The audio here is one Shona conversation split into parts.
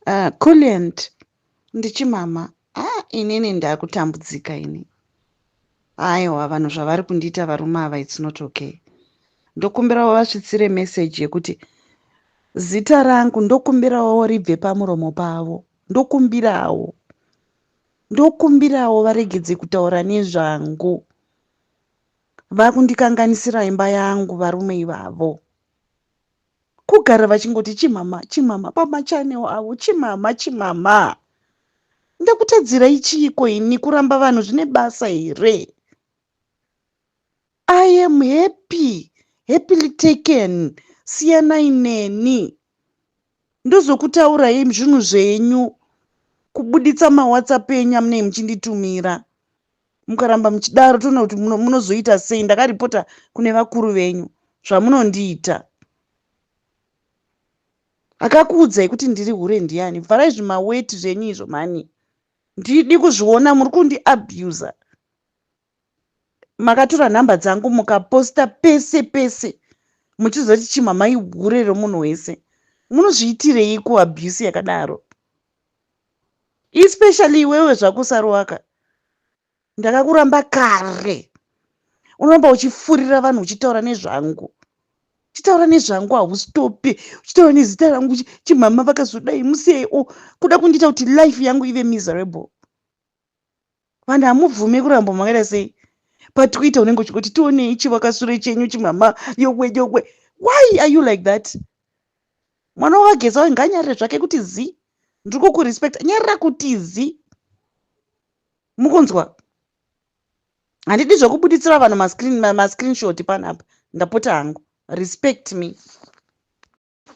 Uh, Kulliant ndichimama ah, inini ndakutambudzika ini aiwa vanhu zvavari kundiita varume ava its not okay ndokumbirawo vasvitsire meseji yekuti zita rangu ndokumbirawo ribve pamuromo pavo ndokumbirawo ndokumbirawo varegedze kutaura nezvangu vakundikanganisira imba yangu varume ivavo kugara vachingoti chimama chimama pamachanel avo chimama chimama ndakutadzira ichiiko ini kuramba vanhu zvine basa here i am happy happily taken siyanai neni ndozokutaurai zvinhu zvenyu kubuditsa mawhatsapp enyu amunei muchinditumira mukaramba muchidaro toona kuti munozoita sei ndakaripota kune vakuru venyu zvamunondiita akakuudzai kuti ndiri hure ndiani vharai zvimaweti zvenyu izvo mhani ndidi kuzviona muri kundiabusa makatora nhamba dzangu mukaposta pese pese muchizoti chimhamai hure romunhu wese munozviitireiko abuse yakadaro especially iwewe zvako saruwaka ndakakuramba kare unoramba uchifurira vanhu uchitaura nezvangu chitaura nezvangu haustopi uchitaura nezita rangu chimhama vakazodai musiyai o kuda kundiita kuti life yangu ive miserable vanhu hamubvume kuramba makaita sei patikuita unenge uchingoti tionei chivakasure chenyu chimama yowe yowe why are you like that mwana wavageza wayo ngaanyarire zvake kuti zi ndiri kukurespecta nyarira kuti zi mukunzwa handidi zvekubuditsira vanhu mascreenshot panapa ndapota hangu respect me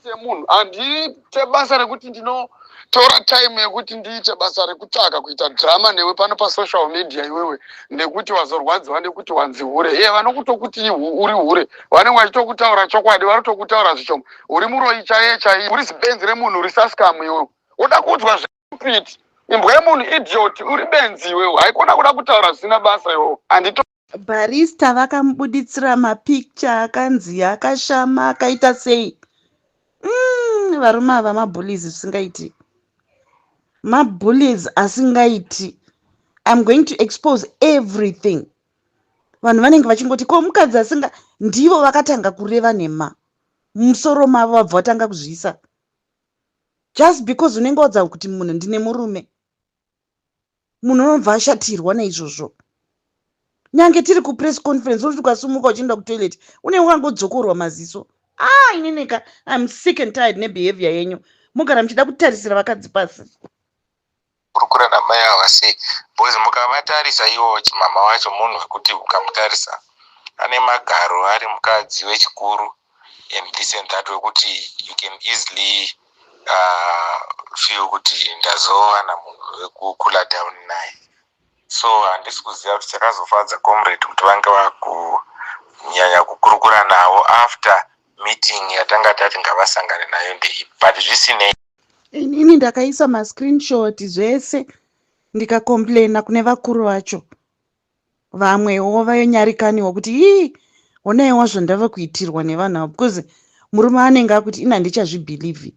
semunhu handiite basa rekuti ndinotora time yekuti ndiite basa rekutsvaka kuita drama newe pano pasocial media iwewe nekuti wazorwadziwa nekuti wanzi hure iye vanokutokuti uri hure vanenge vachitokutaura chokwadi vanotokutaura zvichomo uri muroyi chaiye chaiye uri zibenzi remunhu uri saskamu iwewe woda kuudzwa zvepiti imbwa yemunhu idiot uri benzi iwewe haikona kuda kutaura zvisina basa iwewe handito Barista vakamubuditsira mapicture akanzi akashama akaita sei mm, varume ava mabullies zvisingaiti mabullies asingaiti im going to expose everything vanhu vanenge vachingoti ko mukadzi asinga ndivo vakatanga kureva nhema musoro mavo vabva vatanga kuzviisa just because unenge wadza kuti munhu ndine murume munhu anobva ashatirwa neizvozvo nyange tiri kupress conference unoti ukasumuka uchienda kutoilet une wakangodzokorwa maziso a ah, inineka im sick and tired nebehavior yenyu mugara muchida kutarisira vakadzi pasi kurukura namai ava sei bcause mukavatarisa ivo chimama wacho munhu wekuti ukamutarisa ane magaro ari mukadzi wechikuru in this and that wekuti you can easily uh, feel kuti ndazowana munhu wekukula down naye so handisi kuziva kuti chakazofadza comrade kuti vange vakunyanya kukurukura navo after meeting yatanga tati ngavasangane nayo ndeipi but zvisinei inini ndakaisa mascreenshot zvese ndikacomplaina kune vakuru vacho vamwewo vanyarikaniwo kuti ii onaiwa zvandava kuitirwa nevanhu avo because murume anenge akuti ini handichazvibhilivhi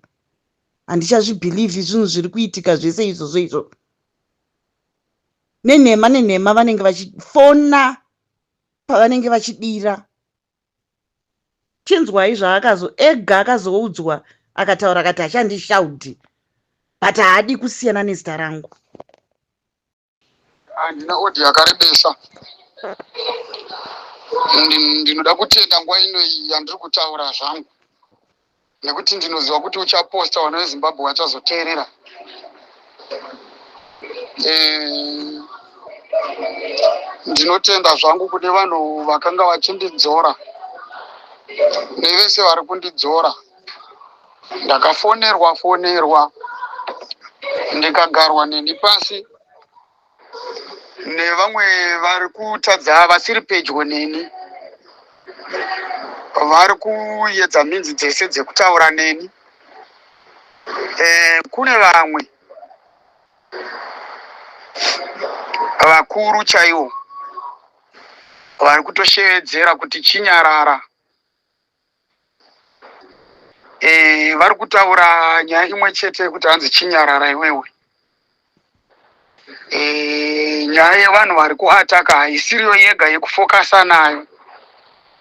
handichazvibhilivhi zvinhu zviri kuitika zvese izvozvo izvo nenhema nenhema vanenge vachifona pavanenge vachidira chinzwai zvaakazo ega akazoudzwa akataura akati hachandishaudhi but haadi kusiyana nezita rangu handina odhi yakarebesa ndinoda kutenda nguva ino iyi yandiri kutaura zvangu nekuti ndinoziva kuti uchaposta vana vezimbabwe vachazoteerera eh, ndinotenda zvangu kune vanhu vakanga vachindidzora nevese vari kundidzora ndakafonerwa fonerwa ndikagarwa neni pasi nevamwe vari kutadza vasiri pedyo neni vari kuyedza minzi dzese dzekutaura neni eh, kune vamwe vakuru chaiwo vari kutoshevedzera kuti chinyarara Eh, vari kutaura nyaya imwe chete yekuti hanzi chinyarara iwewe. Eh, nyaya yevanhu vari kuataka haisiriyo yega yekufokasa nayo.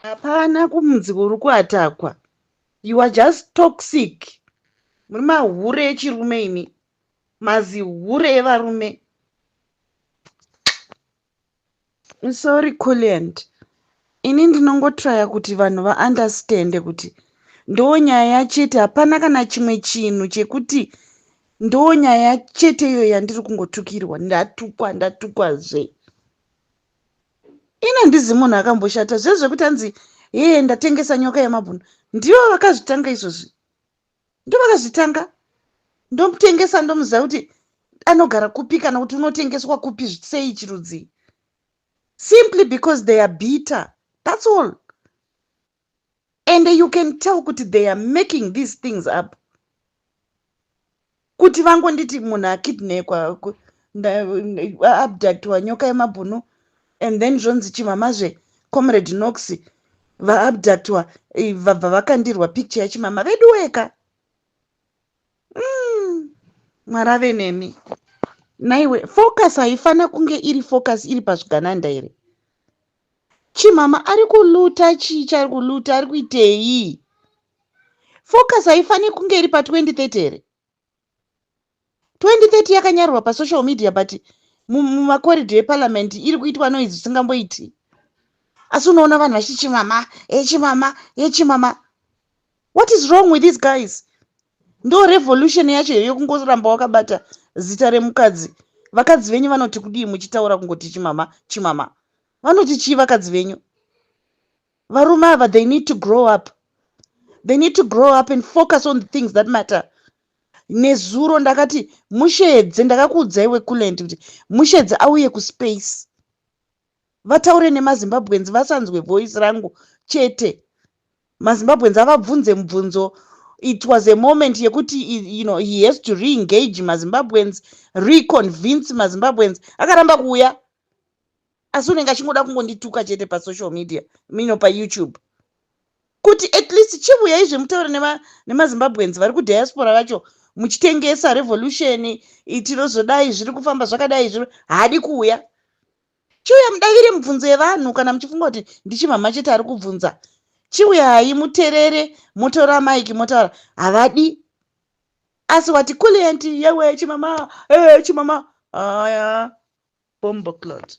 Hapana kumunzi kuri kuatakwa. You are just toxic. Muri mahure echirume imi. Mazihure evarume. Sorry Kulliant, ini ndinongotraya kuti vanhu vaunderstande kuti ndonyaya yachete, hapana kana chimwe chinhu chekuti ndonyaya chete iyo yandiri kungotukirwa, ndatukwa ndatukwa zve ini handizi munhu akamboshata zvezvekuti anzi hee ndatengesa nyoka yemabhunu ndivo vakazvitanga izvozvi ndovakazvitanga ndomutengesa ndomuziva kuti anogara kupi kana kuti unotengeswa kupi sei chirudzii simply because they are bitter thats all and you can tell kuti they are making these things up kuti vangonditi munhu akidnekwa abductwa nyoka yemabhunu and then zvonzi chimamazve comrade nox vaabductwa eh, vabva vakandirwa picture yachimama vedu weka mm, mwari ave nemi naiwe focus haifana kunge iri focus iri pazvigananda here Chimama ari kuluta chii chari kuluta ari kuitei? Focus haifani kunge iri pa 2030 here? 2030 yakanyarwa pa social media but mumakorido eparliament iri kuitwa noise zvisingamboiti. Asi unoona vanhu vachiti chimama, echimama, echimama. what is wrong with these guys ndo revolution yacho iyo kungoramba wakabata zita remukadzi vakadzi venyu vanoti kudii muchitaura kungoti chimama chimama vanoti chii vakadzi venyu varume ava they need to grow up they need to grow up and focus on the things that matter nezuro ndakati mushedze ndakakuudzai wekuland kuti mushedze auye kuspace vataure nemazimbabweans vasanzwe voice rangu chete mazimbabweans avabvunze mubvunzo it was a moment yekuti you know he has to reengage mazimbabweans reconvince mazimbabweans akaramba kuuya asi unenge achingoda kungondituka chete pasocial media mino payoutube kuti at least chivuya izvi mutaure nemazimbabweans vari kudiaspora vacho muchitengesa revolution itinozodai zviri kufamba zvakadai zviri haadi kuuya chiuya mudavire mibvunzo yevanhu kana muchifunga kuti ndichimhamha chete ari kubvunza chiuyai muterere motora maiki motaura havadi asi wati kulient yewe chimama e chimama aya bomboclot